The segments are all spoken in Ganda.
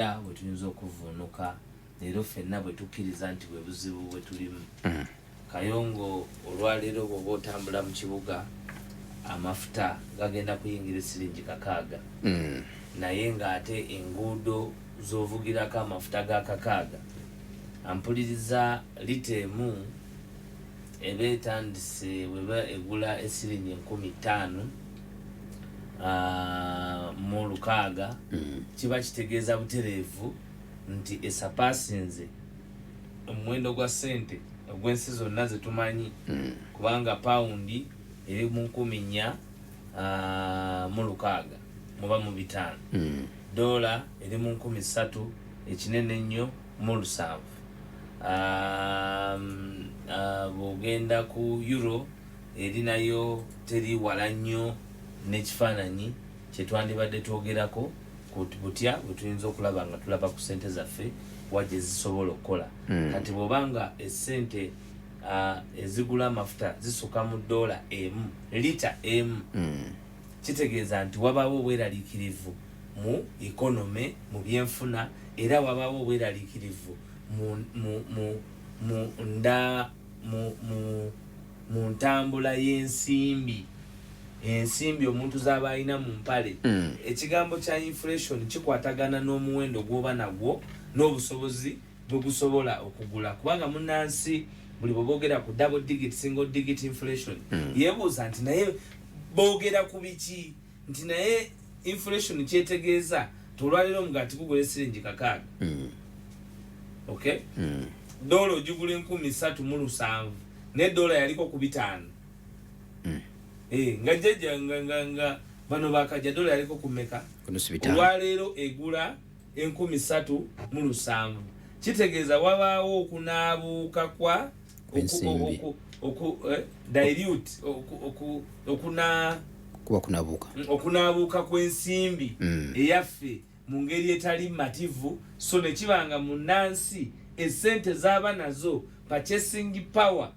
Era bwe tuyinza okuvvuunuka leero ffenna bwe tukkiriza nti bwe buzibu bwe tulimu. Mm. Kayongo olwaleero bw'oba otambula mu kibuga amafuta gagenda kuyingira esiringi kakaaga mm. naye ng'ate enguudo z'ovugirako amafuta ga kakaaga ampuliriza lita emu eba etandise weba egula esiringi enkumi ttaano ah, mu lukaaga mm. kiba kitegeeza butereevu nti esapaasinze omuwendo gwa ssente ogw'ensi zonna ze tumanyi mm. kubanga pawundi eri mu nkumi nnya ah, mu lukaaga muba mu bitaano mm. doola eri mu nkumi ssatu ekinene ennyo mu lusanvu um, uh, bw'ogenda ku euro Eri nayo teri wala nnyo n'ekifaananyi kye twandibadde twogerako ku butya bwe tuyinza okulaba nga tulaba ku ssente zaffe wa gye zisobola okukola. Kati bw'oba nga essente ezigula amafuta zisuka mu ddoola emu lita emu, kitegeeza nti wabaawo obweraliikirivu mu ikonome, mu byenfuna, era wabaawo obweraliikirivu mu nda. mu, mu, mu ntambula y'ensimbi ensimbi omuntu z'aba alina mu mpale mm. ekigambo kya inflation kikwatagana n'omuwendo gw'oba nagwo n'obusobozi bwe gusobola okugula kubanga munnansi buli bwe boogera ku double digit single digit inflation mm. yeebuuza nti naye boogera ku biki nti naye inflation kyetegeeza tolwalira omugaati gugula esiringi kakaaga mm. ok mm. doola ogigula enkumi satu mu lusanvu naye doola yaliko ku bitaano mm. eh, nga jjajja nga bano bakajja doola yaliko ku meka olwaleero egula enkumi ssatu mu lusanvu kitegeeza wabaawo okunaabuuka kwa eh, dilute okuna kuba kunabuuka mm, okunaabuuka kw'ensimbi mm. eyaffe mu ngeri etali mativu so ne kiba nga munnansi esente z'aba nazo purchasing power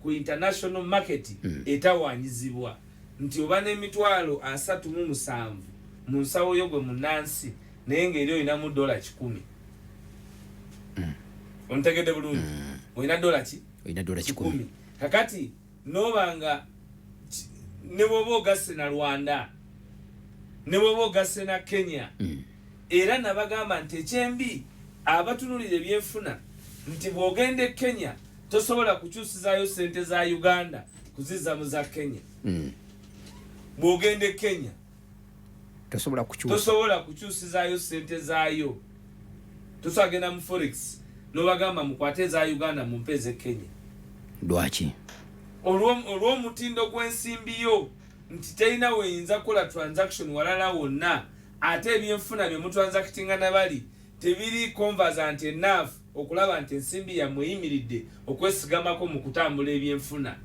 ku international market mm. etawaanyizibwa nti oba n'emitwalo asatu mu musanvu mu nsawo yo gwe munnansi naye ng'eri olinamu dola kikumi mm. ontegedde bulungi mm. olina dola ki olina dola kikumi kakati noba nga ne bwoba ogasse na rwanda ne bwoba ogasse na kenya mm. era nabagamba nti ekyembi abatunulira ebyenfuna nti bwogenda e kenya tosobola kukyusizayo sente za uganda kuziza mu za kenya bwogenda e kenya tosobola kukyusa tosobola kukyusizayo sente zayo tusagenda mu forex nobagamba mukwate eza uganda mumpe eze kenya lwaki olwomutindo gwensimbi yo nti terina weyinza kukola transaction walala wonna ate ebyenfuna byemutransactinga nabali tebiri conversant enough okulaba nti ensimbi yammwe eyimiridde okwesigamako mu kutambula ebyenfuna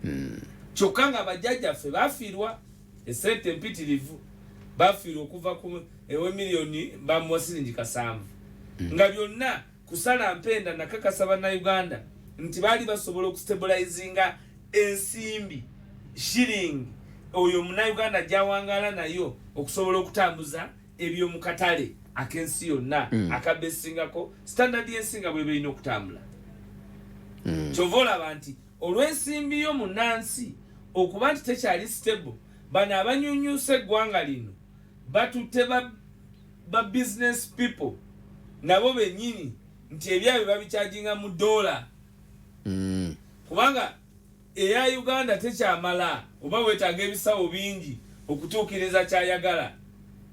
hmm. kyokka nga bajjajjaffe bafiirwa Essente empitirivu bafiirwa okuva ku ewe miliyoni bamuwa siringi kasanvu hmm. nga byonna kusala mpenda nakakasa bannayuganda nti baali basobola okustabulayizinga ensimbi shiringi oyo munauganda gyawangala nayo okusobola okutambuza ebyomukatale akensi yonna mm. akabesingako standard yensinga bweberina okutambula mm. kyova olaba nti Olw'ensimbi yo munansi okuba nti tekyali stable, bano abanyunyusa eggwanga lino batutte ba ba business people nabo benyini nti ebyabwe babikyajinga mu dola mm. kubanga eya uganda tekyamala oba wetaaga ebisawo bingi okutuukiriza kyayagala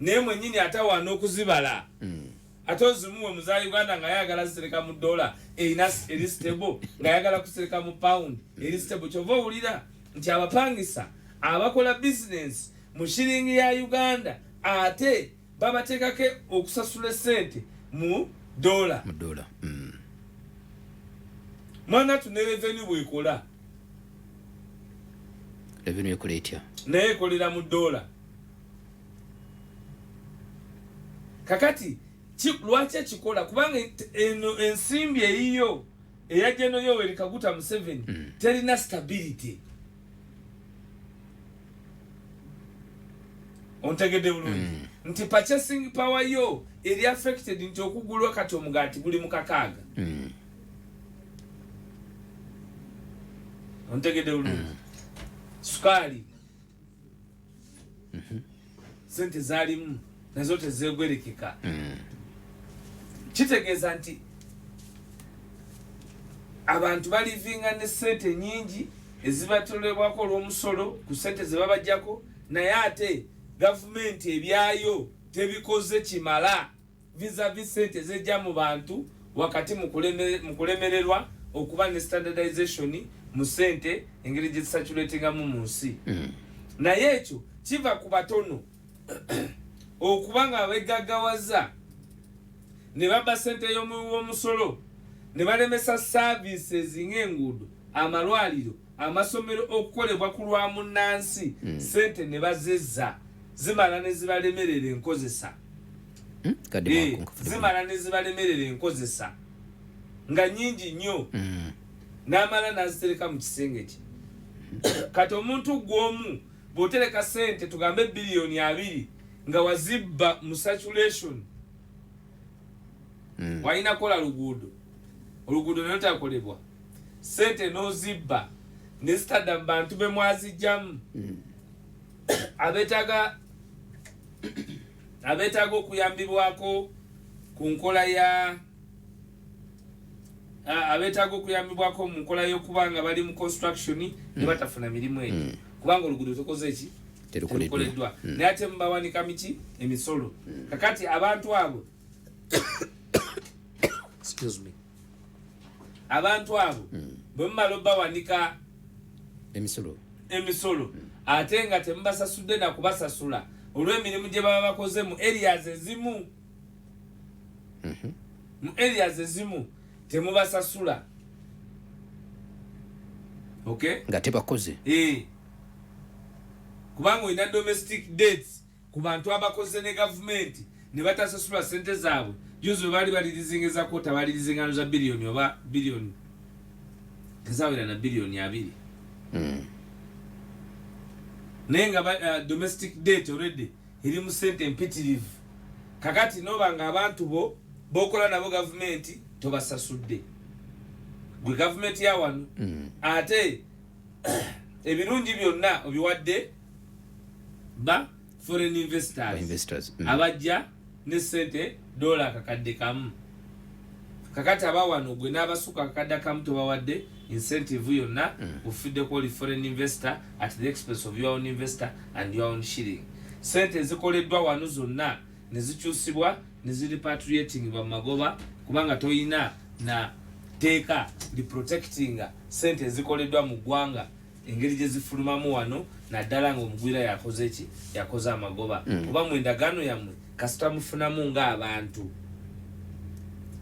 naye mwenyini atawaana okuzibala mm. ate ozimuwe muza uganda nga ayagala zisereka mu dola erina eri stable nga ayagala kusereka mu pound eri stable kyova owulira nti abapangisa abakola bizinensi mu shiringi ya uganda ate babateekako okusasula esente mu dola mm. mwana tu ne revenu bwekola revenu ekola etya naye ekolera mu dola kakati lwaki ekikola kubanga eno ensimbi eyiyo eya jeno yoweri kaguta museveni mm. terina stability ontegedde bulungi mm. nti purchasing power yo eri affected nti okugulwa kati omugaati guli mukakaaga mm. ontegedde bulungi mm. sukaali mhm. sente zalimu nazo tezegwerekeka mm. kitegeeza nti abantu balivinga ne sente nyingi ezibatolebwako olwomusolo ku sente zebabajjako naye ate gavumenti ebyayo tebikoze kimala vizavi ssente ezejja mu bantu wakati mu kulemererwa okuba ne standardization mu ssente engeri gye zisaculatingamu mu nsi hmm. naye ekyo kiva ku batono okuba nga beggaggawaza ne babba ssente y'omuwi w'omusolo ne balemesa services ng'enguudo amalwaliro amasomero okukolebwa ku lwa munnansi hmm. ssente ne bazezza zimala ne zibalemerera enkozesa hmm? eh, zimala ne zibalemerera enkozesa nga nyingi nnyo hmm. n'amala n'azitereka mu kisenge kye kati omuntu gw'omu bw'otereka sente tugambe biliyoni abiri nga wazibba mu saturation hmm. walina kola luguudo oluguudo nayo takolebwa sente n'ozibba nezitadda mu bantu bemwazijjamu abetaga abeetaaga okuyambibwako ku nkola ya abeetaaga okuyambibwako mu nkola y'okuba nga bali mu construction ne hmm. batafuna mirimu egyo hmm. kubanga oluguudo tokoze eki terukoleddwa hmm. naye ate mubawanika miki emisolo kakati abantu abo excuse me abantu abo hmm. bwe mumala obawanika emisolo emisolo hmm. ate nga temubasasudde na kubasasula olw'emirimu gye baba bakoze mu areas ezimu mhm. mu areas ezimu temubasasula okay nga tebakoze eh. kubanga olina domestic dates ku bantu abakoze ne gavumenti ne batasasulwa ssente zaabwe juzi bwe baali balirizinga eza kwota balirizingano za biliyoni oba biliyoni ezawera na biliyoni abiri hmm. naye nga uh, domestic date already eri mu ssente empitirivu kakati noba nga abantu bo bokola nabo gavumenti tobasasudde gwe gavumenti yawano hmm. ate ebirungi byonna obiwadde ba foreign investors, investors. Mm. abajja ne sente dola akakadde kamu kakati abawano gwe n'abasuka akakadde kamu tobawadde incentive yonna mm. ufiddeko oli foreign investor at the expense of your own investor and your own shilling sente ezikoleddwa wano zonna nezikyusibwa neziripatriatingibwa mu magoba kubanga toyina na teeka liprotectinga sente ezikoleddwa mu ggwanga engeri gye zifulumamu wano naddala nga omugwira yakoze ki yakoze amagoba mm. kuba mu endagaano yammwe kasita mufunamu ng'abantu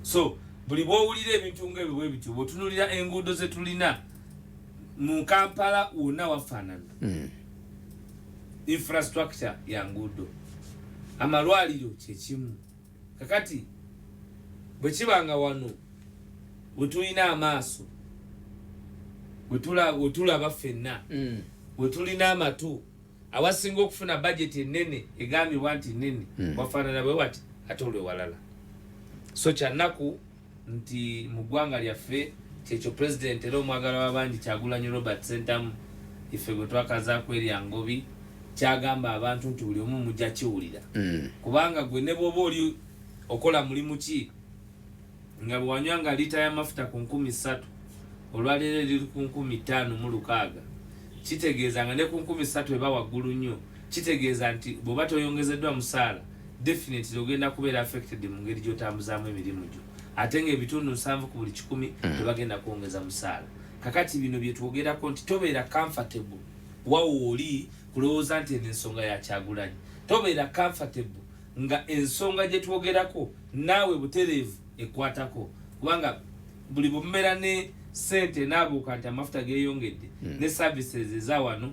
so buli bwowulira ebintu ngaebyo bwe bityo bwotunulira enguudo ze tulina mu kampala wonna wafaanana mm. infrastructure ya nguudo amalwaliro kyekimu Kakati bwekiba nga wano wetulina amaaso wetulaba fenna mm. wetulina amatu awasinga okufuna bajeti enene egambibwa nti nene mm. wafanana bwewati ate olwewalala so kyanaku nti mu ggwanga lyaffe kyekyo pulezidenti era omwagala w'abangi Kyagulanyi Robert Ssentamu ife bwe twakazaako erya Ngobi kyagamba abantu nti buli omu mujja kiwulira mm. kubanga gwe ne bwoba oli okola mulimu ki nga bwewanywa nga liita y'amafuta ku nkumi ssatu olwaleero eriri ku nkumi ttaano mu lukaaga kitegeeza nga ne ku nkumi ssatu eba waggulu nnyo Kitegeeza nti bwoba toyongezeddwa musaala definitely ogenda kubeera affected mu ngeri gy'otambuzaamu emirimu gyo ate ng'ebitundu nsanvu ku buli kikumi mm. tebagenda kwongeza musaala kakati bino bye twogerako nti tobeera comfortable wawo oli kulowooza nti eno ensonga ya kyagulanyi tobeera comfortable nga ensonga gye twogerako naawe butereevu ekwatako kubanga buli bumera ne sente naabuuka nti amafuta geeyongedde mm. ne services eza wano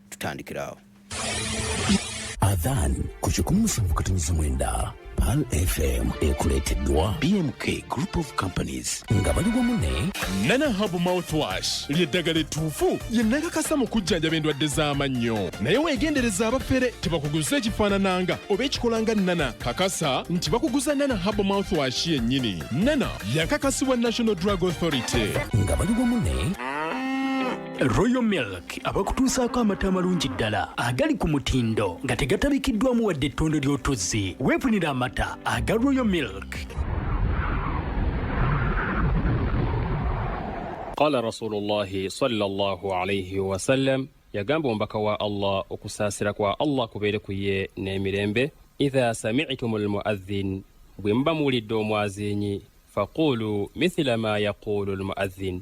tutandikira awo adhan ku kikumi musanvu katonyeza mwenda pal fm ekuleeteddwa bmk group of companies nga bali wamu ne nana habu mouthwash lyeddagala ettuufu lye nakakasa mu kujjanjaba endwadde z'amannyo naye weegendereza abafere tebakuguza ekifaanananga oba ekikolanga nana kakasa nti bakuguza nana habu mouthwash yennyini nana yakakasibwa national drug authority nga bali wamu ne royal milk abakutuusaako amata amalungi ddala agali ku mutindo nga tegatabikiddwamu wadde ettondo ly'otuzzi weefunira amata aga royal milk qala rasulullahi salllah alaihi wasallam yagamba omubaka wa allah okusaasira kwa allah kubeere ku ye n'emirembe idha samitum lmuadhin bwe muba muwulidde omwazinyi faqulu mithila ma yaqulu lmuadhin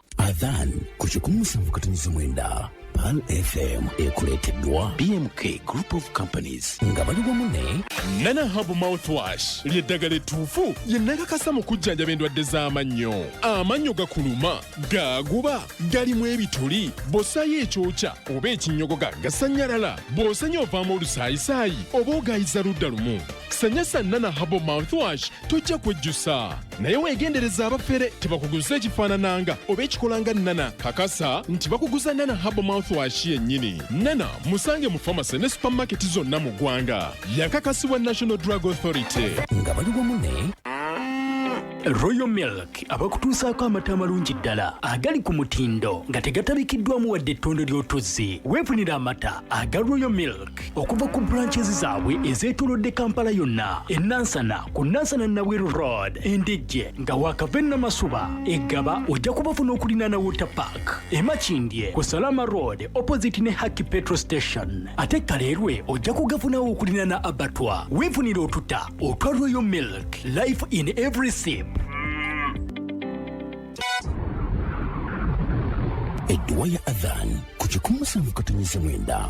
adhan ku kikumi musanvu katonyiza mwenda pal fm ekuleeteddwa bmk group of companies nga bali wamu ne nana habu mouthwash ly'eddagala ettuufu lye nakakasa mu kujjanjaba endwadde z'amannyo amannyo gakuluma gaaguba galimu ebituli bw'ossaayo ekyokya oba ekinnyogoga gasanyalala bw'osanya ovaamu olusaayisaayi oba ogayiza ludda lumu sanyasa nana habu mouthwash tojja kwejjusa naye weegendereza abafere tebakuguza ekifaanananga oba ekikolanga nana kakasa nti bakuguza nana habo mouthwash yennyini nana musange mu famasi ne supamaketi zonna mu ggwanga yakakasibwa national drug authority nga bali wamu ne royal milk abakutuusaako amata amalungi ddala agali ku mutindo nga tegatabikiddwamu wadde ettondo ly'otuzzi weefunira amata aga royal milk okuva ku branches zaabwe ezeetolodde kampala yonna enansana ku nansana nabweru road endejje nga wakava enamasuba eggaba ojja kubafuna okulinaana water park emakindye ku salama road opposite ne haki petro station ate kaleerwe ojja kugafunawo okulinaana abatwa weefunira otuta otwa royal milk life in every sip edduwa ya adhan ku kikumusanvu katonyeza mwenda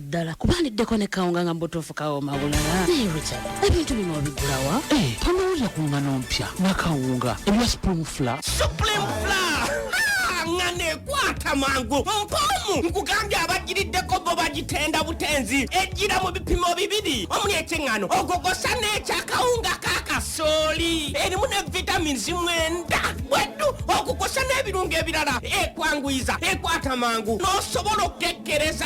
ddala kuba ndiddeko ne kawunga nga mubutuufu kawooma bulala naye richard ebintu bino obigulawa eh, tonowulira ku ngano mpya nakawunga ebya supreme fla supreme fla nga nekwata mangu mpoomu nkugambye abagiriddeko bo bagitenda butenzi ejjira mu bipimo bibiri omuli ekyeŋŋano ogogosa n'ekyakawunga ka kasooli erimu ne vitamins mwenda bweddu okukosa n'ebirungo ebirala ekwanguyiza ekwata mangu n'osobola okukekkereza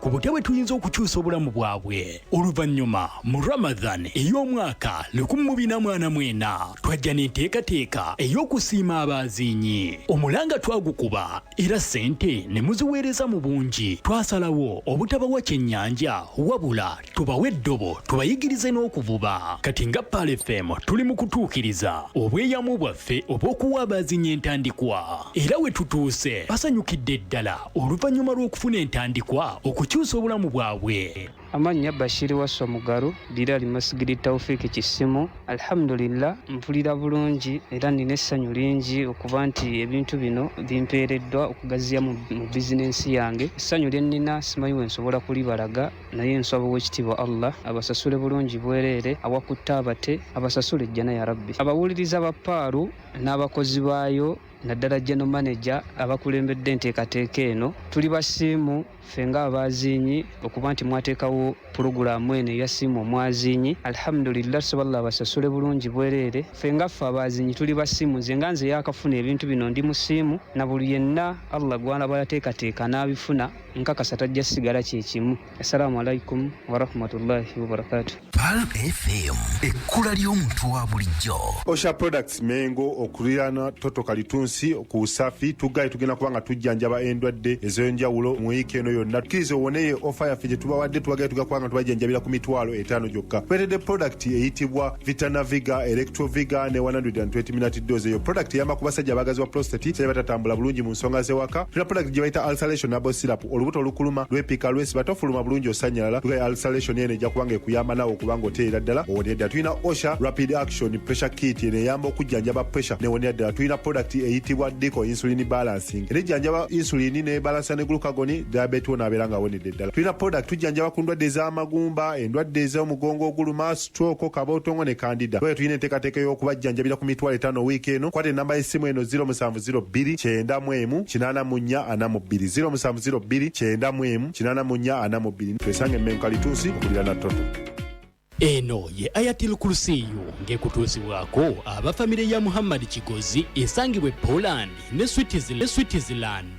ku butya bwe tuyinza okukyusa obulamu bwabwe oluvannyuma mu ramadhan ey'omwaka lukumi mu bina mwana mwena twajja n'enteekateeka ey'okusiima abaaziinyi omulanga twagukuba era ssente ne muziweereza mu bungi twasalawo obutabawa kyennyanja wabula tubawe eddobo tubayigirize n'okuvuba kati nga pal fm tuli mu kutuukiriza obweyamu bwaffe obw'okuwa abaazinya entandikwa era we tutuuse basanyukidde ddala oluvannyuma lw'okufuna entandikwa okukyusa obulamu bwabwe amannya bashiri waswa mugaru dira limasigiri taufiki kisimu alhamdulillah mpulira bulungi era nina essanyu lingi okuba nti ebintu bino bimpeereddwa okugaziya mu bizinensi yange essanyu lye nnina simanyi wensobola kulibalaga naye nsaba owekitiibwa allah abasasule bulungi bwereere awakutte abate abasasule ejjana ya rabbi abawuliriza ba paalu n'abakozi baayo naddala general manager abakulembedde enteekateeka eno tuli basiimu ffe nga abaaziinyi okuba nti mwateekawo pulogulaamu eno eya siimu omwaziinyi alhamdulillah tusaballah abasasule bulungi bwereere ffe nga ffe abaaziinyi tuli basiimu nze nga nze yakafuna ebintu bino ndi mu siimu na buli yenna allah gwalaba yateekateeka n'abifuna nkakasa tajja sigala kyekimu assalamu alaikum warahmatullahi wabarakatu pal fm ekkula ly'omuntu wa bulijjo osha products mengo okulirana toto kalitunsi ku usafi tugaye tugenda kuba nga tujjanjaba endwadde ez'enjawulo mu wiiki eno yonna tukkiriza owoneye ofa yaffe gye tubawadde tubagaye tugenda kuba nga tubajjanjabira ku mitwalo etaano gyokka tweredde product eyitibwa vitanaviga electroviga ne 120 Doze eyo product yamba ku basajja abagazi wa prostate sebe batatambula bulungi mu nsonga z'ewaka. Tuna product gye bayita ulceration herbal syrup, olubuto olukuluma lwepika lwesiba tofuluma bulungi osanyalala. Tugaye ulceration eno ejja kubanga ekuyamba nawe okubanga otereera ddala owonera ddala. Tulina OSHA rapid action pressure kit eno eyamba okujjanjaba pressure newonera ddala. Tulina product eyitibwa Deco insulin balancing era ejjanjaba insulin ne balansa ne glucagon diabetes wona abeera nga awonedde ddala. Tulina product tujjanjaba ku ndwadde ez'amagumba, endwadde ez'omugongo oguluma, stroke Twoko, Kabootongo ne Kandida. Bwetyo tulina enteekateeka ey'okubajjanjabira ku mitwalo etaano wiiki eno. Kwata ennamba y'essimu eno, ziro musanvu ziro bbiri kyenda mu emu kinaana mu nnya ana mu bbiri, ziro musanvu ziro bbiri kyenda mu emu kinaana mu nnya ana mu bbiri. Twesange e Mengo Kalituusi okuliraana Toto. Eno ye Ayatil Kursiyu ng'ekutuusibwako aba famire ya Muhammad Kigozi esangibwa e Poland ne Switzerland.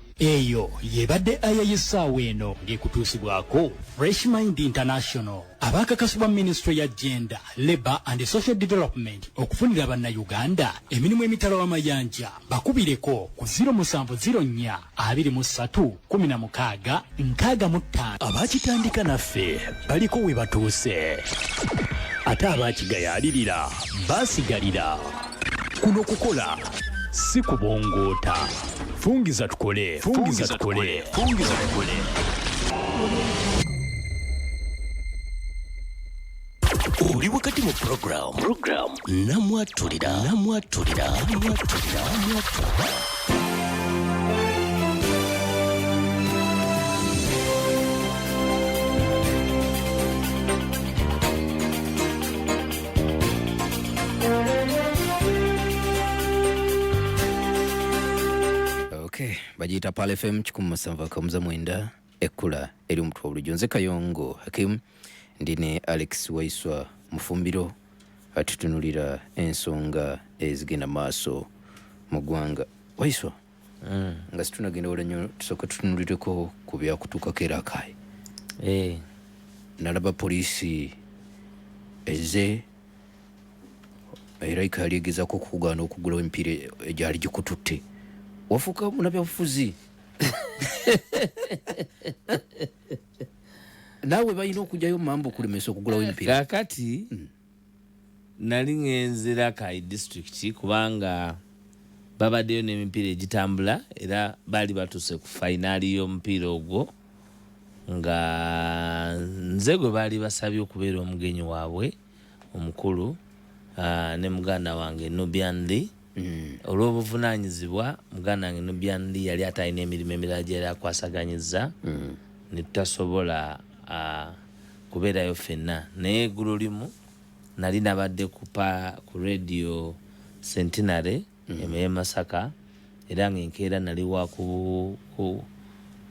Eyo y'ebadde aya y'essaawa eno ng'ekutuusibwako Fresh Mind International abaakakasibwa minisitule ya Gender, Labour and Social Development okufunira Bannayuganda emirimu emitala w'amayanja bakubireko ku 0704 23 16 65. Abaakitandika naffe baliko we batuuse ate abaakigayaalirira baasigalira. Kuno kukola si kubongoota. Fungiza tukole, fungiza tukole, fungiza tukole. Oli wakati mu program, program namwatulira, namwatulira, namwatulira, namwatulira. Okay, bagiita Pal FM kikumi musanvu akamuza mwenda ekkula eri omutwe olujo nze kayongo hakim ndi ne alex waiswa mufumbiro atutunulira ensonga ezigenda maaso mu ggwanga waiswa mm. nga situnagenda wala nyo tusooka tutunulireko ku byakutuukako era akaye eh. nalaba poliisi eze era ikaali egezako okukugaana okugulawo emipiira egyali gikututte wafuuka munabyabufuzi naawe balina okugyayo mambo okulemesa okugulawo emipiira kakati mm. Nali ngenze Rakai district kubanga babadeyo nemipiira egitambula era baali batuuse ku fayinaali y'omupiira ogwo nga nze gwe baali basabye okubeera omugenyi waabwe omukulu ne muganda wange Nubian Li. Mm, olw'obuvunaanyizibwa muganda wange Nubian Lee yali ate alina emirimu emirala gye yali akwasaganyizza mm. ne tutasobola uh, kubeerayo fenna naye eggulo limu nali nabadde kupa ku radio centenary mm. emeye masaka era nga enkeera nali wa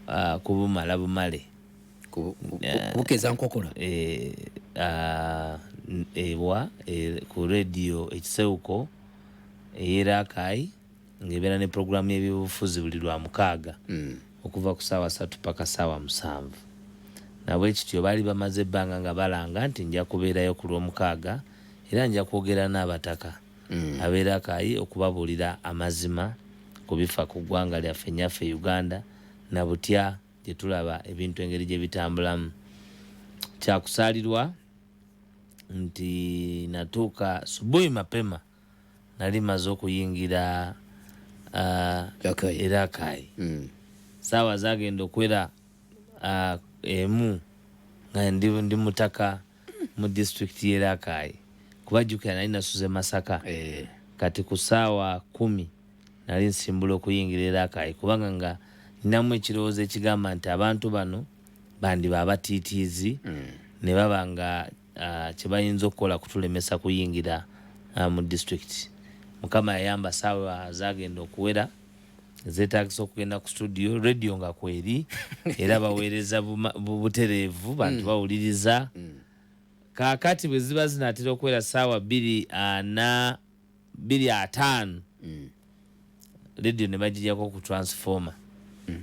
ah, kubumala uh, bumale bukeza nkokola eh, ah, ewa eh, ku radio ekisewuko ey'e Rakai ng'ebeera ne pulogulaamu y'ebyobufuzi buli Lwamukaaga okuva ku ssaawa ssatu ppaka ssaawa musanvu. Na bwe kityo baali bamaze ebbanga nga balanga nti nja kubeerayo ku Lwomukaaga era nja kwogera n'Abataka ab'e Rakai okubabuulira amazima ku bifa ku ggwanga lyaffe nnyaffe Uganda na butya gye tulaba ebintu engeri gye bitambulamu. Kya kusaalirwa. nti natuuka subuhi mapema nali maze okuyingira uh, erakai mm. saawa zagenda okwera uh, emu nga ndi, ndi mutaka mu disitulikiti y'erakai kuba jjukira nali nasuze masaka eh. kati ku saawa kumi nali nsimbula okuyingira erakai kubanga nga ninamu ekirowoozo ekigamba nti abantu bano bandiba abatiitiizi hmm. ne baba nga uh, kye bayinza okukola kutulemesa kuyingira uh, mu disitulikiti mukama yayamba saawa zagenda okuwera zetagisa okugenda ku studio radio nga kweri era baweereza butereevu bantu mm. bawuliriza mm. kakati bwe ziba zinatera okuwera saawa bbiri ana biri ataano mm. radio ne bagijako ku transformer mm.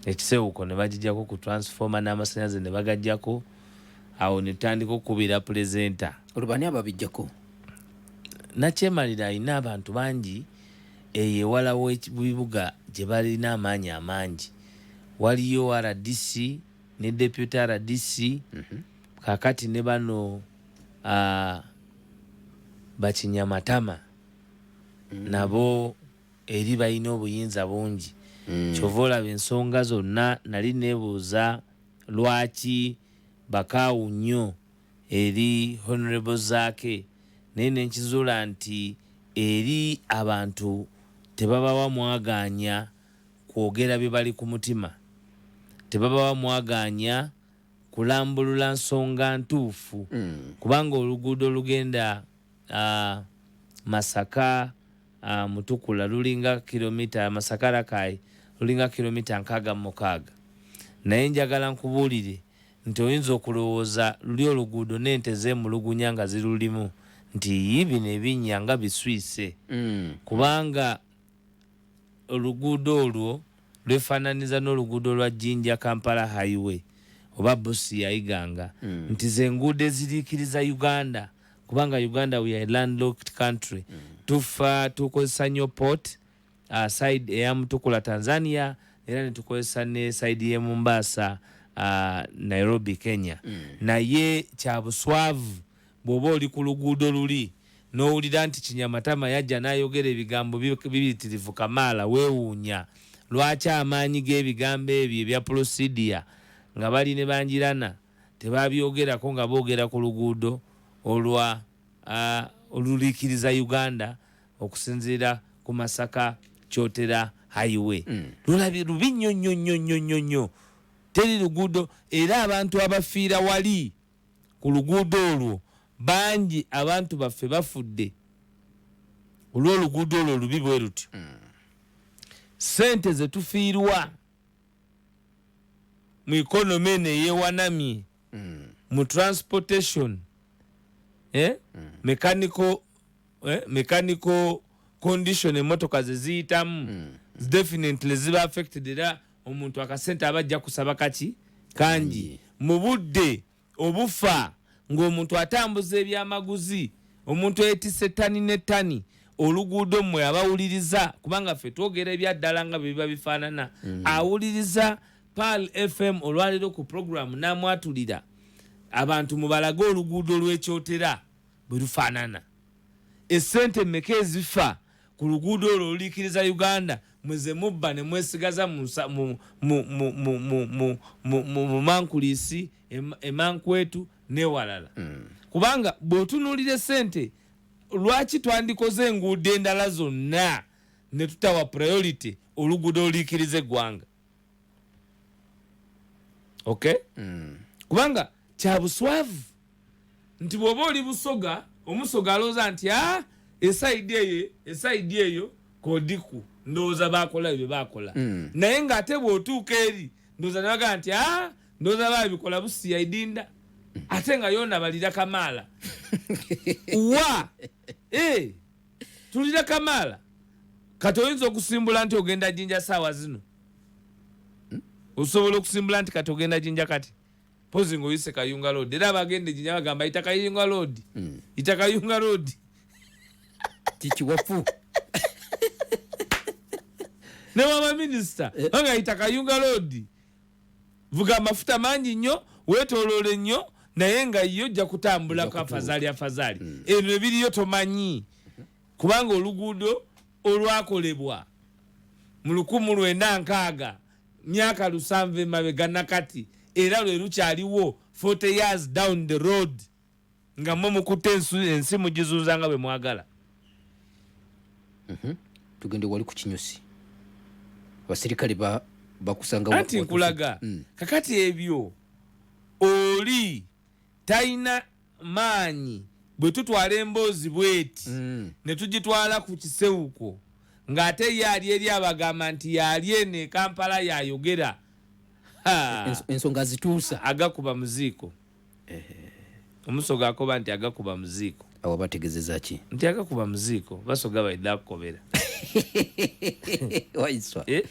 ekisewuko ne bagijako ku transformer n'amasanyaze ne bagajjako awo ne tutandika okukubira pulezenta olubani ababijjako nakyemalira alina abantu bangi eyo ewala webibuga gye balina amaanyi amangi waliyo rdc ne deputy rdc mm -hmm. kakati ne bano bakinya matama mm. nabo eri balina obuyinza bungi mm. kyova olaba ensonga zonna nali nebuuza lwaki bakaawu nnyo eri honorable zaake naye nenkizuula nti eri abantu tebabawa mwagaanya kwogera bye bali ku mutima tebabawa mwagaanya kulambulula nsonga ntuufu mm. kubanga oluguudo olugenda uh, masaka uh, mutukula lulinga kilomita masaka rakai lulinga kilomita nkaaga mumukaaga naye njagala nkubuulire nti oyinza okulowooza luli oluguudo n'ente zeemulugunya nga zirulimu nti yi bino ebinnya nga biswise mm. kubanga Oluguudo olwo lwefaananyiza n'oluguudo lwa Jinja-Kampala Highway oba Busia, Iganga nti ze nguudo eziriikiriza Uganda kubanga Uganda we are a landlocked country tufa tukozesa nnyo port side eya Mutukula, Tanzania era ne tukozesa ne side y'e Mombasa, Nairobi, Kenya naye kya buswavu Bw'oba oli ku luguudo luli n'owulira nti kinyamatama yajja n'ayogera ebigambo bibitirivu kamaala weewuunya lwaki amaanyi g'ebigambo ebyo ebya pulosidiya nga bali ne Bangirana tebaabyogerako nga boogera ku luguudo olwa oluliikiriza Uganda okusinziira ku Masaka Kyotera Highway. Mm. Lulabi lubi nnyo nnyo nnyo nnyo nnyo nnyo. Teri luguudo era abantu abafiira wali. ku luguudo olwo bangi abantu baffe bafudde olw'oluguudo olwo olubi bwe lutyo ssente ze tufiirwa mu ekonoma eno eyewanamye mu transportation eh? mechanical eh, mechanical condition emotoka zeziyitamu mm. definitely ziba affected era omuntu akasente aba ajja kusaba kaki kangi mm. mu budde obufa ng'omuntu atambuza ebyamaguzi omuntu etise tani ne tani oluguudo mmwe abawuliriza kubanga ffe twogera ebyaddala nga byebiba bifaanana mm. awuliriza pal fm olwaleero ku programu namwatulira abantu mubalage oluguudo lwekyotera bwe lufaanana. Essente mmeka ezifa ku luguudo olwo oluliikiriza Uganda mwe ze mubba ne mwesigaza mu bumankuliisi e Mankwetu n'ewalala? Hmm. Kubanga bw'otunuulira essente lwaki twandikoze enguudo endala zonna ne tutawa priority oluguudo oluliikiriza eggwanga? okay mm. kubanga kyabuswavu nti bwoba oli busoga omusoga alooza nti a ah, esaidi eyo esaidi eyo kodiku ndowooza bakola ebyo bakola mm. naye nga ate bwotuuka eri ndowooza nebagaa nti a ah, ndowooza babikola busiyaidinda ate nga yona balira kamaala wa Eh, tulire kamaala kati oyinza okusimbula nti ogenda jinja saawa zino hmm? osobola okusimbula nti kati ogenda jinja kati pozi nga oyise kayunga loodi era abagenda ejinya bagamba yita kayunga loodi hmm. yita kayunga loodi kikiwafu ne wabaminisita eh. banga yita kayunga loodi Vuga amafuta mangi nnyo, weetooloole nnyo naye nga yo ojja kutambulako afazaali afazaali. Hmm. Eno ebiriyo tomanyi kubanga oluguudo olwakolebwa mu lukumu lwenda nkaaga myaka lusanvu emabega nakati era lwe lukyaliwo 40 years down the road. nga mwe mukutte ensi mugizunza nga bwe mwagala mhm. tugende wali ku kinyusi abaserikale bakusanga anti nkulaga mm. kakati ebyo oli talina maanyi bwe tutwala emboozi bweti mm. ne tugitwala ku kisewuko ng'ate ye ali eri abagamba nti yali eno ekampala yayogera ensonga zituusa agakuba muziiko omusoga akoba nti agakuba muziiko awo bategezeza ki nti agakuba muziiko basoga baidha akukobera waiswa eh?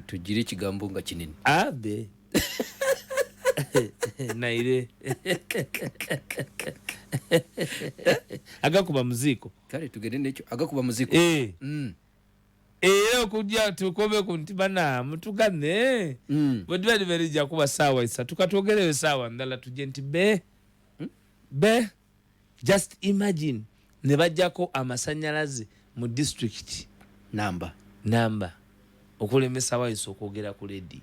tugire ekigambo nga kinene abe naire agakuba muziiko kale tugende nekyo agakuba muziiko eh. mm. era okujja tukome ku nti bana mutugane mm. bwe diba liberija kuba saawa esatu katwogereyo saawa ndala tujje nti be hmm? be just imagine ne bajjako amasanyalaze mu district namba namba okulemesa wayisa okwogera ku lediyo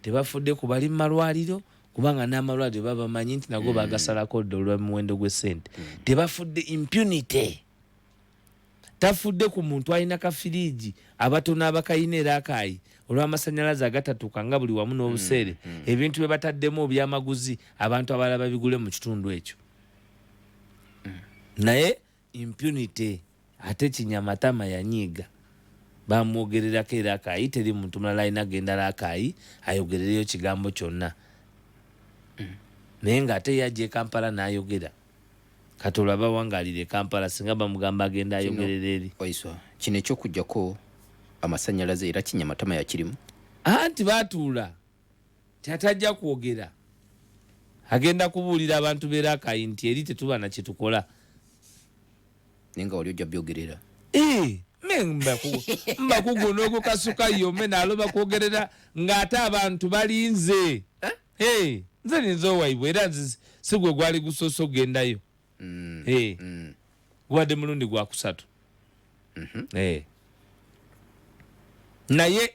tebafudde ku bali mu malwaliro kubanga n'amalwaliro babamanyi nti nago mm. bagasalako dda olwa muwendo gw'essente mm. tebafudde impunity tafudde ku muntu alina kafiriigi abatono abakalina era akaayi olw'amasannyalaze agatatuuka nga buli wamu n'obuseere mm, mm. ebintu bye bataddemu obyamaguzi abantu abalala babigule mu kitundu ekyo mm. naye impunity ate kinyamatama yanyiiga bamwogererako era akaayi teri muntu mulala alina gendala akaayi ayogerereyo kigambo kyonna naye ng'ate ye ajja e kampala n'ayogera Katolo abawangalire Kampala singa bamugamba agenda ayogerera eri. Waiswa kino ekyokujjako amasanyalaze era kinya matama yakirimu. Anti batuula tatajja kwogera agenda kubuulira abantu beera akayi nti eri tetuba na kyetukola naye nga wali ojja byogerera eh, mbakugu n'ogukasuka yome naloba kwogerera ng'ate abantu balinze eh? Hey, nze ninza owaibwe era nze sigwe gwali gusoose okugendayo mm. hey. mm. gubadde mulundi gwakusatu mm -hmm. hey. naye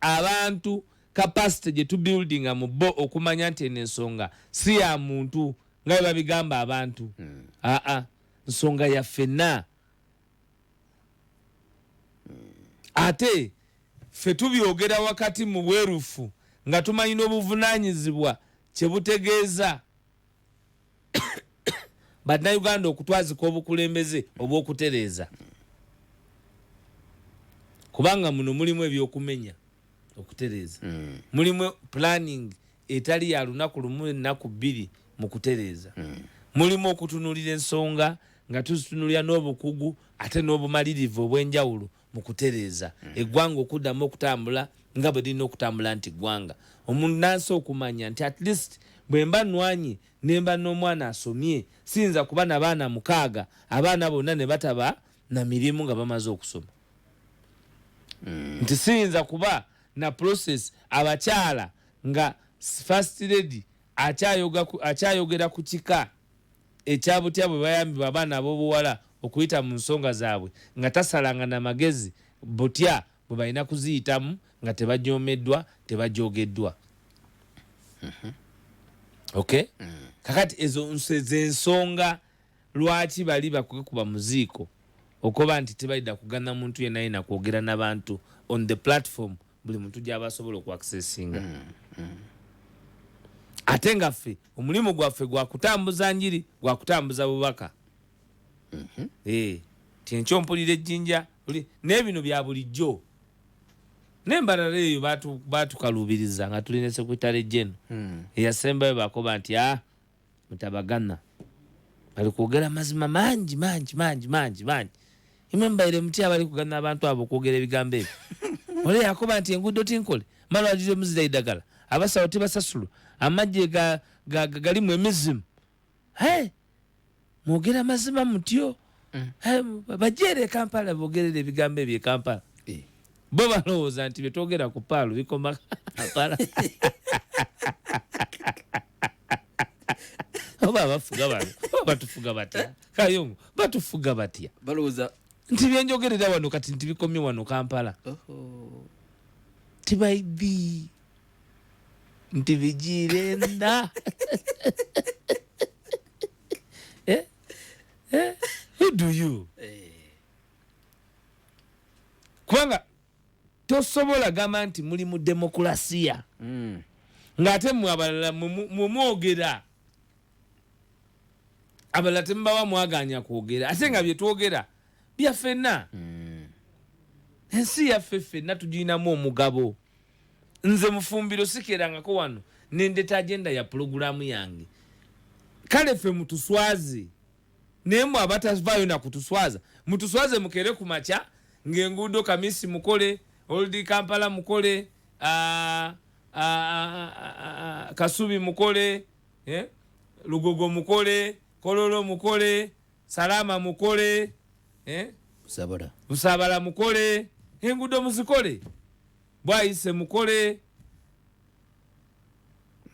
abantu kapasite gye tubuildinga mu bo okumanya nti eno ensonga si ya muntu nga bebabigamba abantu mm. aa nsonga ya fenna ate ffe tubyogera wakati mu bwerufu nga tumanyi n'obuvunaanyizibwa kye butegeeza bannayuganda okutwazika obukulembeze obw'okutereeza kubanga muno mulimu ebyokumenya okutereeza hmm. mulimu planning etali ya lunaku lumu ennaku bbiri mu kutereeza mm. mulimu okutunuulira ensonga nga tuzitunulira n'obukugu ate n'obumalirivu obw'enjawulo mu kutereeza mm. eggwanga okuddamu okutambula nga bwe lirina okutambula nti ggwanga omunnansi okumanya nti at least bwe mba nnwanyi ne mba n'omwana asomye siyinza kuba na baana mukaaga abaana bonna ne bataba na mirimu nga bamaze okusoma mm. nti siyinza kuba na process abakyala Nga First Lady akyayogera ku kika ekya butya bwe bayambibwa abaana ab'obuwala okuyita mu nsonga zaabwe nga tasalanga na magezi butya bwe balina kuziyitamu nga tebajoomeddwa, tebajoogeddwa. Okay? Kakati ezo ze nsonga lwaki bali bakwekuba mu ziiko okuba nti tebalida kugana muntu yenna yenna kwogera na bantu on the platform buli muntu gyaba asobola oku accessinga mm, mm. ate nga ffe omulimu gwaffe gwakutambuza njiri gwakutambuza bubaka mm -hmm. hey. Eh, kyenkyo mpulira ejjinja nebino bya bulijjo nembalala eyo batukaluubiriza nga tulinese kwitale jeno hmm. eyasembayo bakoba nti a ah, mutabagana bali kwogera amazima mangi mangi mangi mangi mangi imwe mubaire mutya bali kugana abantu abo okwogera ebigambo ebyo ole yakoba nti enguudo tinkole malwaliro muzira idagala abasawo tebasasulwa amagye galimu emizimu hey! mwogera mazima mutyo mm. bajere ekampala bogerera ebigambo ebyo ekampala eh. bo balowooza nti byetwogera ku paalo bikoma kampala oba abafuga bano batufuga batya kayongo batufuga batya balowooza nti byenjogerera wano kati nti bikomye wano kampala tibaidhi nti bigiirenda eh? eh? who do you eh. kubanga tosobola gamba nti muli mu demokulasiya mm. ng'ate mwe abalala mwemwogera abalala temubawa mwaganya kwogera ate nga byetwogera byafena mm. ensi yaffe ffenna tugirinamu omugabo nze mufumbiro sikerangako wano nendeta agenda ya pulogulaamu yange kale fe mutuswaze naye mwe abatavaayo nakutuswaza mutuswaze mukere ku makya ng'enguudo kamisi mukole oldi kampala mukole ah, ah, ah, kasubi mukole eh? lugogo mukole kololo mukole salama mukole eh? busabala mukole enguudo muzikole bwayise mukole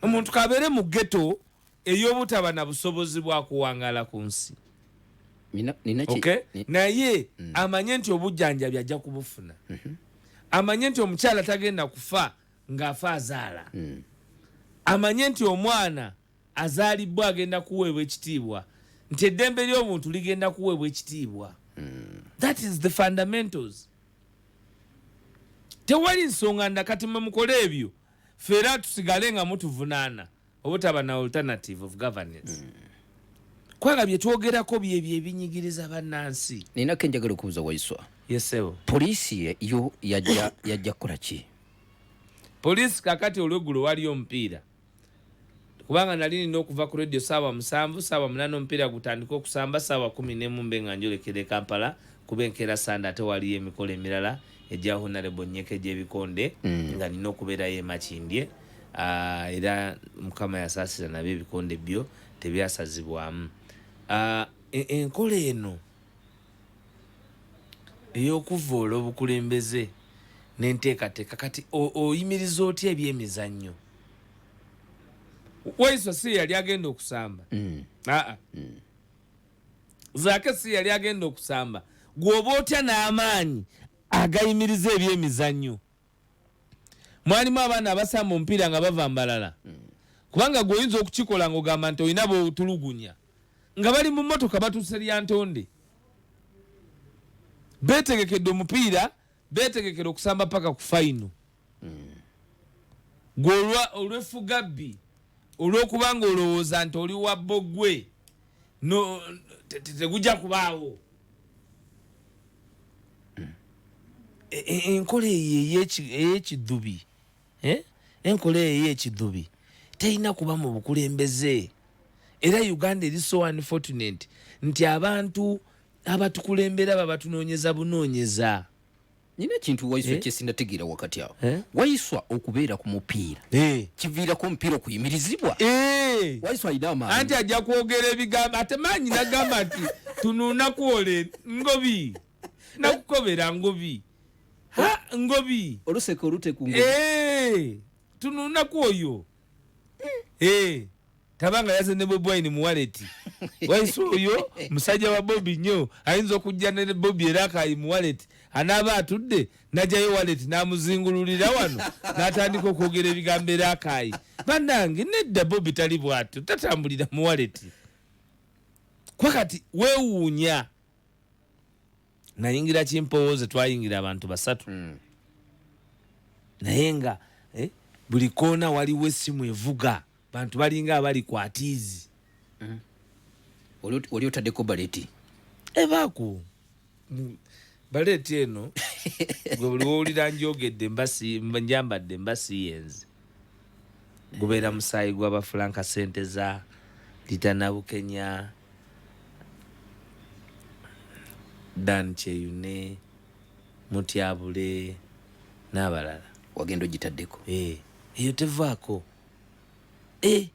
omuntu kabeere mu geto eyobutaba na busobozi bwakuwangala ku nsi naye mm. amanye nti obujjanjabi ajja kubufuna mm-hmm. amanye nti omukyala tagenda kufa ng'afa azaala mm. amanye nti omwana azaalibbwa agenda kuweebwa ekitiibwa nti eddembe ly'obuntu ligenda kuweebwa ekitiibwa mm. that is the fundamentals tewali nsonga nda kati mwe mukole ebyo ffe era tusigale nga mutuvunaana obutaba na alternative of governance mm. kwanga bye twogerako byebyo ebinyigiriza bannansi nina ke njagala okubuza waiswa yesebo poliisi yo yajja kukola ki poliisi kakati olweggulo waliyo omupiira kubanga nali nina okuva ku radio saawa musanvu saawa munana omupiira gutandike okusamba saawa kumi nemu mbe nga njolekera e kampala kuba enkeera sande ate waliyo emikolo emirala egya honarebo nyeka egyebikonde mm. nga nina okubeerayo emakindye ah, era mukama yasaasira nabyo ebikonde byo tebyasazibwamu ah, e, enkola eno eyokuvoola obukulembeze nenteekateeka kati oyimiriza otya ebyemizannyo waiso si yali agenda okusamba mm. aa mm. zake si yali agenda okusamba gwoba otya n'amaanyi agayimiriza ebyemizannyo mwalimu abaana abasamba omupiira nga bava mbalala mm. kubanga gwe oyinza okukikola ngaogamba nti olina botulugunya nga bali mu motoka batuuse lyantonde betegekedde omupiira betegekera okusamba paka ku fayino gwe olwefugabbi olwokuba nga olowooza nti oli wabbo gwe tegujja kubaawo e, e, enkola eyo eyekidhubi eh? enkola eyo eyekidhubi terina kuba mu bukulembeze era uganda eri so unfortunate nti abantu abatukulembera babatunonyeza bunonyeza nina ekintu waiswa eh? kyesinategeera wakati awo eh? waiswa okubeera ku mupiira eh. kiviirako omupiira okuyimirizibwa eh. waiswa alina amaanyi anti ajja kwogera ebigambo ate maanyi nagamba nti tunuuna kwole ngobi nakukobera ngobi ha ngobi oluseka olute ku ngobi eh. tunuuna kwoyo eh. taba nga yaze ne bobi wine mu waleti waisi oyo musajja wa bobi nnyo ayinza okujja ne bobi era akayi mu waleti anaaba atudde najayo waleti namuzingululira wano natandika okwogera ebigambo era akayi banange nedda bobi tali bwatyo tatambulira mu waleti kwa kati wewuunya nayingira kimpowooze twayingira abantu basatu hmm. naye nga eh, buli koona waliwo esimu evuga bantu balinga abali ku atiizi mm. oli otaddeko baleti ebaako baleti eno gwe buli wowulira njogedde njambadde mba siyenze gubeera musaayi gwabafulanka sente za litanabukenya dan kyeyune mutyabule n'abalala wagenda ogitaddeko eh, eyo tevaako eh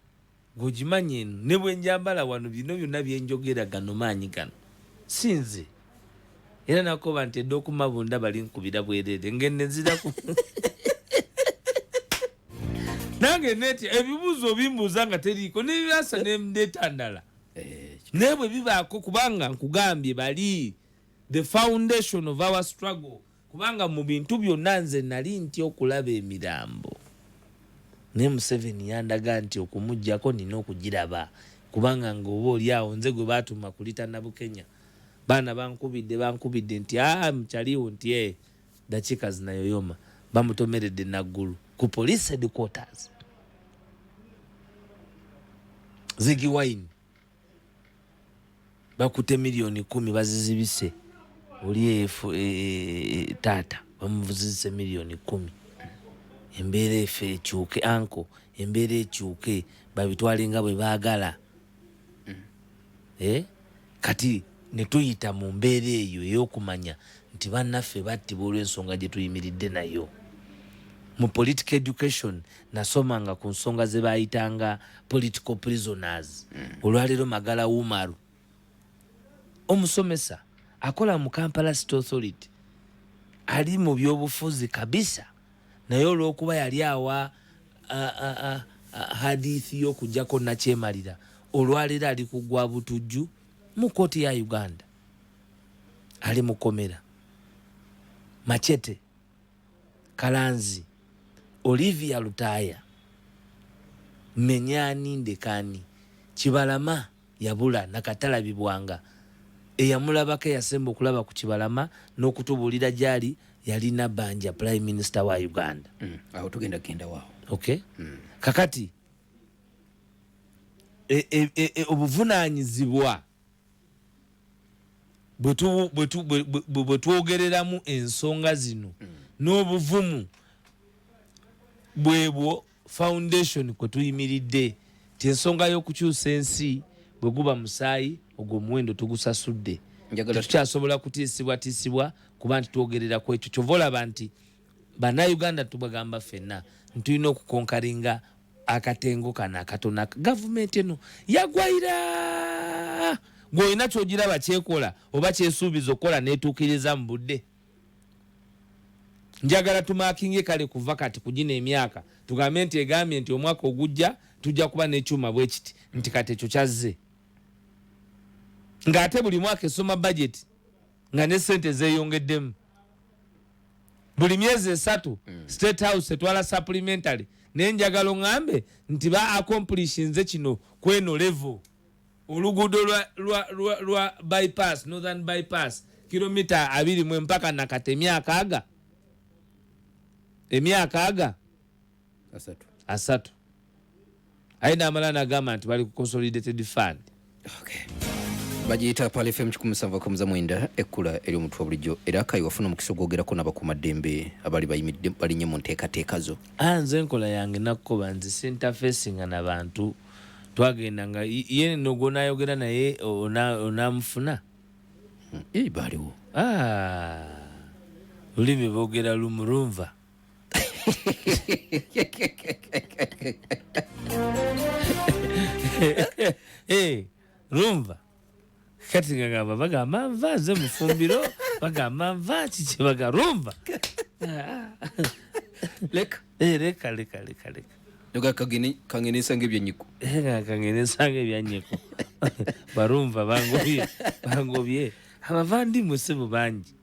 gojimanyi eno ne bwenjambala wano bino byonna byenjogera gano maanyi gano sinze era nakoba nti edda okumabunda bali nkubira bwerere ngende nziraku nange neti ebibuuzo bimbuuza nga teriiko nebyasa netandala eh, naye bwe bibaako kubanga nkugambye bali the foundation of our struggle Kubanga mu bintu byonna nze nnali ntya okulaba emirambo naye Museveni yandaga nti okumugyako nina okugiraba kubanga ng'oba oli awo nze gwe baatuma kulita Nabukenya baana bankubidde bankubidde nti aa mukyaliwo nti e eh, dakiika zinayoyoma bamutomeredde naggulu ku police headquarters zigi wine bakute milioni kumi bazizibise oli efu e, e, e, taata bamuzizise milioni kumi embeera efe ekyuke anko embeera ekyuke babitwale nga bwe baagala mm. eh? kati netuyita mu mbeera eyo eyokumanya nti bannaffe battibwa olw'ensonga gye tuyimiridde nayo mu politic education nasomanga ku nsonga ze baayitanga political prisoners mm. olwaleero magala umaru omusomesa akola mu kampala state authority ali mu byobufuzi kabisa naye olwokuba yali awa hadithi yokujjako nakyemalira olwaleero ali kugwa butujju mu kooti ya uganda ali mukomera machete Kalanzi, Olivia Lutaaya, Mmenya Ani Ndeke Ani, Kibalama yabula nakatalabibwanga. Eyamulabako eyasemba okulaba ku Kibalama n'okutubuulira gyali yali Nabanja, Prime Minister wa Uganda. Mm, awo tugenda kugenda waawo. Okay. Mm. Kakati e, e, e, e, obuvunaanyizibwa bwe twogereramu ensonga zino mm. n'obuvumu bwebwo foundation kwe tuyimiridde ti ensonga y'okukyusa ensi bwe guba musaayi ogwo omuwendo tugusasudde tukyasobola kutiisibwatiisibwa kuba nti twogerera ku ekyo kyova olaba nti bannayuganda tubagamba ffenna ntulina okukonkaringa akatengo kano akatona gavumenti eno yagwaira gweolina kyogiraba kyekola oba kyesuubiza okukola netuukiriza mu budde njagala tumakinge kale kuva kati kugina emyaka tugambe nti egambye nti omwaka ogujja tujja kuba nekyuma bwekiti nti kati ekyo kyazze ng'ate buli mwaka esoma bajeti nga ne sente zeyongeddemu buli myezi esatu mm. state house etwala supplementary naye njagala oŋambe nti ba accomplish nze kino kweno level oluguudo lwa, lwa, lwa, lwa bypass northern bypass kilomita abiri mwe mpaka nakati emyaka aga emyaka aga asatu asatu aye namala nagamba nti bali ku consolidated fund okay. bagiyita pal fm kikumusava kamuza mwenda ekkula eri omutwe bulijjo era kayi wafuna omukisa ogwogerako nabakumaddembe abali bayimidde balinye mu nteekateeka zo ah, nze enkola yange nakukoba nze sintafesinga na bantu twagenda nga ye nogwonayogera naye onamufuna hmm, baliwo ah, olulimi bogera lumurunva Eh, rumva kati ngagamba bagamba nva nze mufumbiro bagamba nva kiki baga rumva leka Eh, leka leka leka leka leka kageni kangenesa ngebyenyiko kangenesanga ebyanyeko barumva bangobye bangobye abavandimwe sebo bangi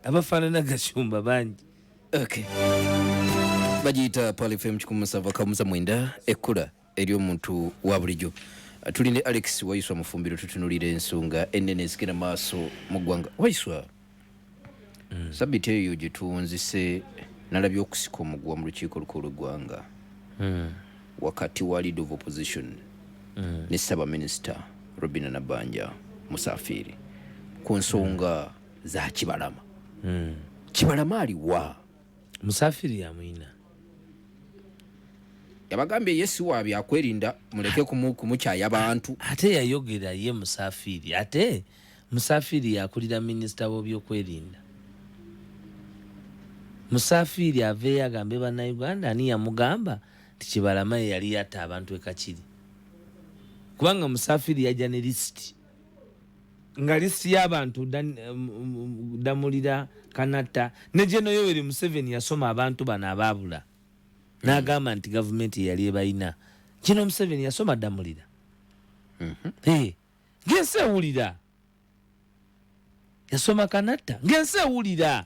abafaanana gashumba bangi okay. bagiyita palifem kikumusava kamusa mwenda ekkula eri omuntu wa bulijjo tuli ne alex waiswa mufumbiro tutunulira ensonga enene ezigenda maaso mu ggwanga waiswa mm. sabiti eyo gyetuwunzise nalabye okusika omuguwa mu lukiiko lukulu lweggwanga mm. wakati wa lead of opposition mm. ne ssabaminista robina nabanja musafiiri ku nsonga mm. za kibalama mm. kibalama aliwa musafiri yamwina yabagambye ye si wa byakwerinda muleke kumukyaya abantu ate yayogera ye musafiri ate musafiri yakulira minisita w'obyokwerinda musafiri aveeyo agambe bannayuganda ani yamugamba nti kibalama ye yali yatta abantu ekakiri kubanga musafiri yajja ne lisiti nga lisiti y'abantu damulira um, um, kanatta ne geno yoweri museveni yasoma abantu bano abaabula n'agamba nti gavumenti eyali ebalina geno museveni yasoma damulira mhm. ng'ensi ewulira yasoma kanatta ng'ensi ewulira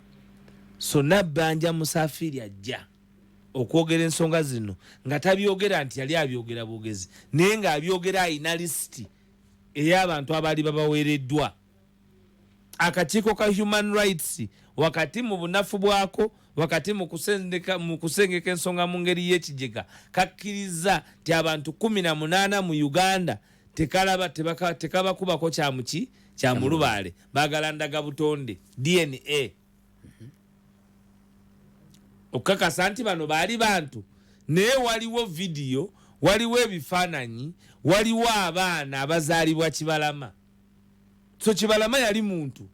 so nabbanja musafiiri ajja okwogera ensonga zino nga tabyogera nti yali abyogera bwogezi naye ng'abyogera alina lisiti ey'abantu abaali babaweereddwa akakiiko ka human rights wakati mu bunafu bwako wakati mu kusengeka ensonga mu ngeri y'ekigega kakkirizza nti abantu kumi na munaana mu uganda tekalaba tekabakubako kyamuki kyamulubaale bagala ndaga butonde dna mhm. okukakasa nti bano baali bantu naye waliwo vidiyo waliwo ebifaananyi waliwo abaana abazaalibwa kibalama so kibalama yali muntu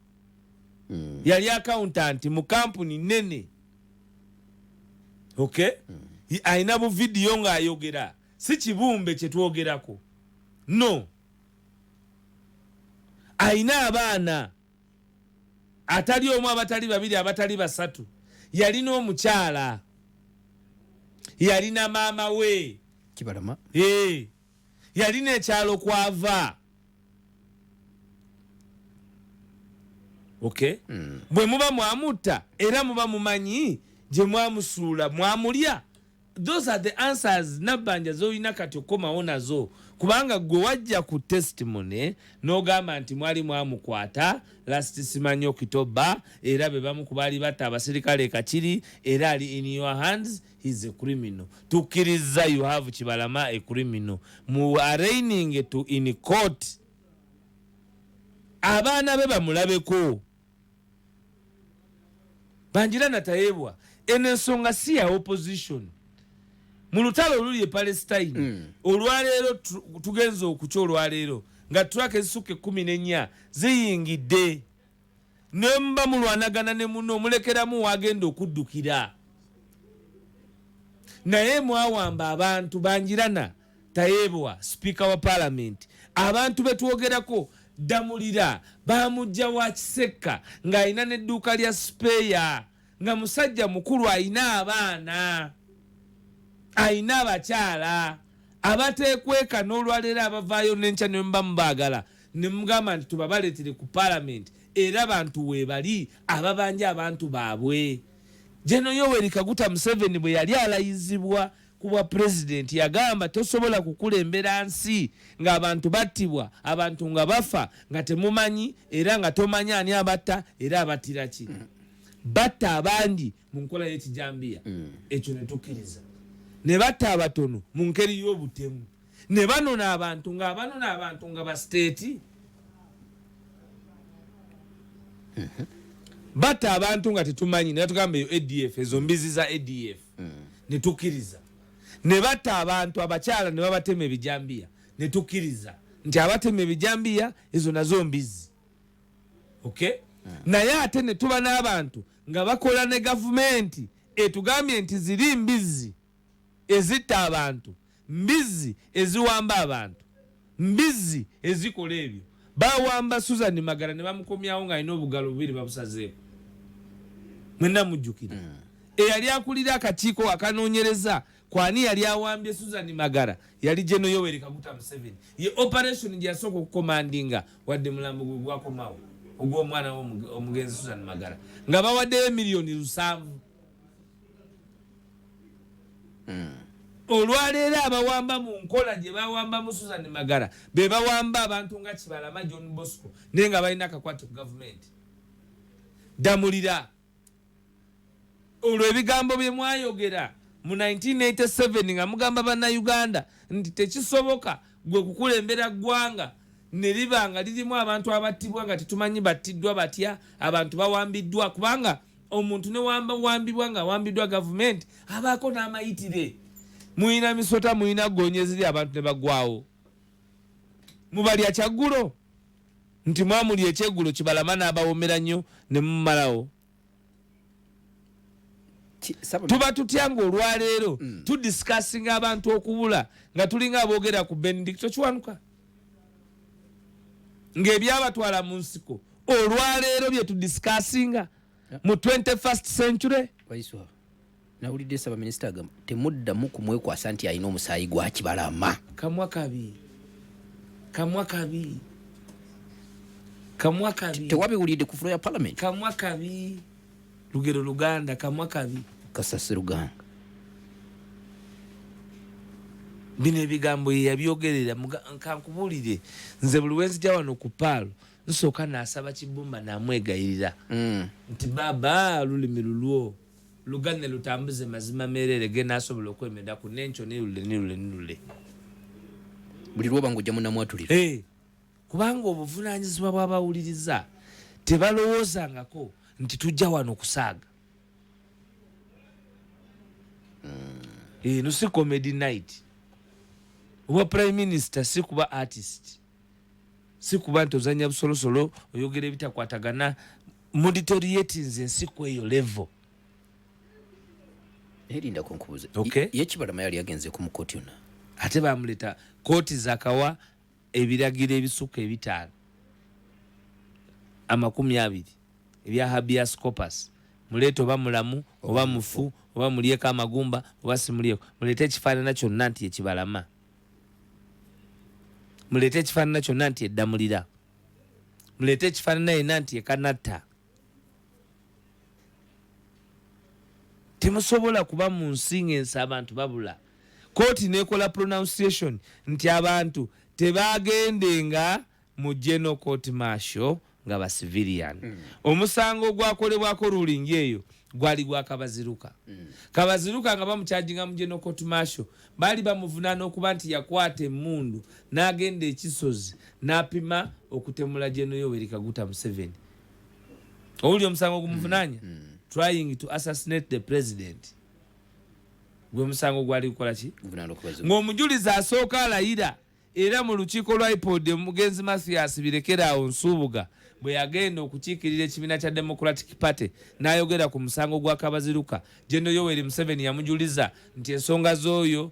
mm. yali akauntanti mu kampuni nene ok mm. alina buvidiyo ng'ayogera Si kibumbe kye twogerako. No. Alina abaana atali omu, abatali babiri, abatali basatu. Yalina omukyala. Yalina maama we. Kibalama. Ee. Yalina ekyalo kwava. Okay. Mm. Bwe muba mwamutta era muba mumanyi gye mwamusuula mwamulya. those are the answers nabbanja zolina kati okukomawo nazo kubanga gwe wajja ku testimony nogamba nti mwali mwamukwata last simanyi okitoba era bebamu kubaali batta abaserikale ekakiri era ali in your hands heis a criminal tukkiriza you have kibalama a criminal mu araining to in court abaana be bamulabeko banjira natayebwa eno ensonga si ya opposition mu lutalo oluli e palestine mm. olwaleero tugenza okukya olwaleero nga traka ezisukka ekumi nenya ziyingidde nemba mulwanagana ne muno omulekeramu wagenda okuddukira naye mwawamba abantu banjirana Tayebwa, sipiika wa Palamenti, abantu be twogerako Ddamulira baamujja wa Kisekka ng'alina n'edduuka lya sipeeya nga musajja mukulu alina abaana alina abakyala abateekweka n'olwaleero abavaayo n'enkya ne muba mubaagala ne mugamba nti tubabaleetere ku palamenti era bantu weebali ababanja abantu baabwe. Jeno Yoweri Kaguta Museveni bwe yali alayizibwa ku bwa pulezidenti yagamba tosobola kukulembera nsi ng'abantu battibwa abantu nga bafa nga temumanyi era nga tomanyi ani abatta era abattira ki batta abangi mu nkola y'ekijambiya mm. ekyo ne tukkiriza ne batta abatono mu ngeri y'obutemu ne banona abantu ng'abanona abantu nga basiteeti mm-hmm. batta abantu nga tetumanyi naye tugamba eyo adf ezo mbizi za adf mm. netukiriza nebatta abantu abakyala nebabatema ebijambiya netukiriza nti abatema ebijambiya ezo nazo mbizi ok mm. naye ate netuba n'abantu nga bakola ne gavumenti etugambye nti ziri mbizi ezitta abantu Mbizzi eziwamba abantu. Mbizzi ezikola ebyo. Bawamba Susan Magara ne bamukomyawo ng'alina obugalo bubiri babusazeeko. Mwenna mujjukira. Mm. Eyali akulira akakiiko akanoonyereza kwani yali awambye Susan Magara yali Geno Yoweri Kaguta Museveni. Ye operation gye yasooka okukomandinga wadde mulambo gwe gwakomawo ogw'omwana w'omugenzi Susan Magara nga bawaddeyo miliyoni lusanvu. Hmm. olwaleero abawamba mu nkola gye bawambamu susan magala be bawamba abantu nga kibalama john bosco naye nga balina akakwate ku gavumenti damulira olwo ebigambo bye mwayogera mu 1987 nga mugamba bannayuganda nti tekisoboka gwe kukulembera ggwanga ne liba nga lirimu abantu abattibwa nga tetumanyi battiddwa batya abantu bawambiddwa kubanga omuntu newamba wambibwa nga awambiddwa gavumenti abaako n'amayitire muyina misota muyina gonye ziri abantu ne bagwawo mubalya kyaggulo nti mwamuli ekyeggulo kibalama n'abawomera nnyo ne mumalawo tuba tutya nga olwaleero mm. tudisikasinga abantu okubula nga tulinga aboogera ku benedicto kiwanuka ng'ebyabatwala mu nsiko olwaleero bye tudisikasinga mu 21st century nawulidde nsaba minisita agamba temuddamu kumwekwasa nti alina omusaayi gwakibalama kamwa kabi kamwa kabi kamwa kabi tewabiwulidde ku fulo ya palamenti kamwa kabi lugero luganda kamwa kabi kasasi luganga bino ebigambo yeyabyogerera kankubuulire nze buli wenzija wano ku paalo nsooka nasaba kibumba namwegayirira mm. nti baba lulimi lulwo lugane lutambuze mazima merere genda asobola okwemeda ku nenkyo nilule nilule nilule buli lwoba nga ojja munamwatulira hey. kubanga obuvunaanyizibwa bw'abawuliriza tebalowoozangako nti tujja wano kusaaga eno si comedy night obwa prime minister si kuba artist si kuba nti ozanya busolosolo oyogera ebitakwatagana muditoryetins ensiku eyo level ate bamuleta kooti zakawa ebiragiro ebisukka ebitaano amakumi abiri ebya habeas corpus muleete oba mulamu oba mufu oba mulyeko amagumba oba simulyeko muleete ekifaanana kyonna nti ekibalama muleete ekifaanana kyonna nti eddamulira muleete ekifaanana yena nti ekanatta temusobola kuba mu nsi ng'ensi abantu babula kooti nekola pronunciation nti abantu tebaagendenga mu geno court marshal nga ba civilian mm. omusango ogwakolebwako ruling eyo gwali gwa kabaziruka mm. kabaziruka nga bamukyajinga mu geno court marshal baali bamuvunaana okuba nti yakwata emundu n'agenda ekisozi n'apima okutemula geno yoweri kaguta museveni owulira omusango ogumuvunanya mm, mm. trying to assassinate the president gwe musango gwali kukola ki ng'omujulizi asooka alayira era mu lukiiko lwa ipod omugenzi mathias birekeraawo nsuubuga bwe yagenda okukiikirira ekibiina kya democratic party n'ayogera ku musango gwa kabaziruka gendo yoweri museveni yamujuliza nti ensonga z'oyo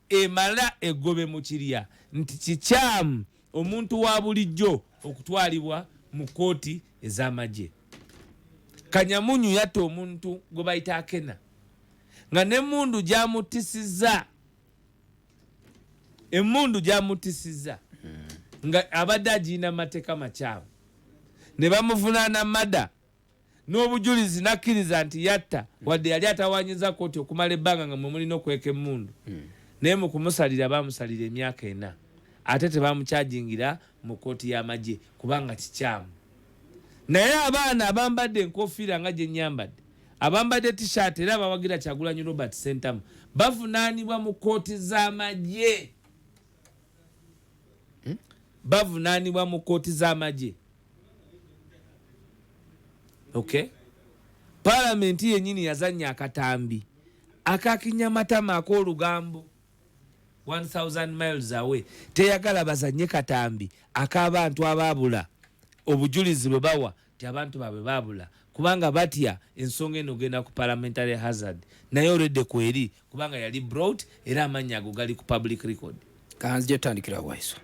emala eggobe mu kirya nti kikyamu omuntu wa bulijjo okutwalibwa mu kkooti ez'amagye. Kanyamunyu yatta omuntu gwe bayita Akena nga n'emmundu gy'amuttisizza emmundu gy'amuttisizza nga abadde agirina mu mateeka makyamu ne bamuvunaana mada n'obujulizi n'akkiriza nti yatta wadde yali atawanyiza kkooti okumala ebbanga nga mwe mulina okweka emmundu hmm. naye mu kumusalira baamusalira emyaka ena ate tebaamukyajingira mu kkooti y'amagye kubanga kikyamu naye abaana abambadde enkofiira nga gye nnyambadde abambadde tishaati era abawagira kyagulanyi robert sentamu bavunaanibwa mu kkooti z'amagye hmm? bavunanibwa mu kooti z'amagye okay palamenti yenyini yazanya akatambi akakinya matama ak'olugambo 1000 miles away teyagala bazanye katambi ak'abantu abaabula obujulizi bwe bawa nti abantu babwe babula kubanga batya ensonga eno ogenda ku parliamentary hazard naye olwedde kweri kubanga yali brout era amannya ago gali ku public record kanzija tutandikira waiso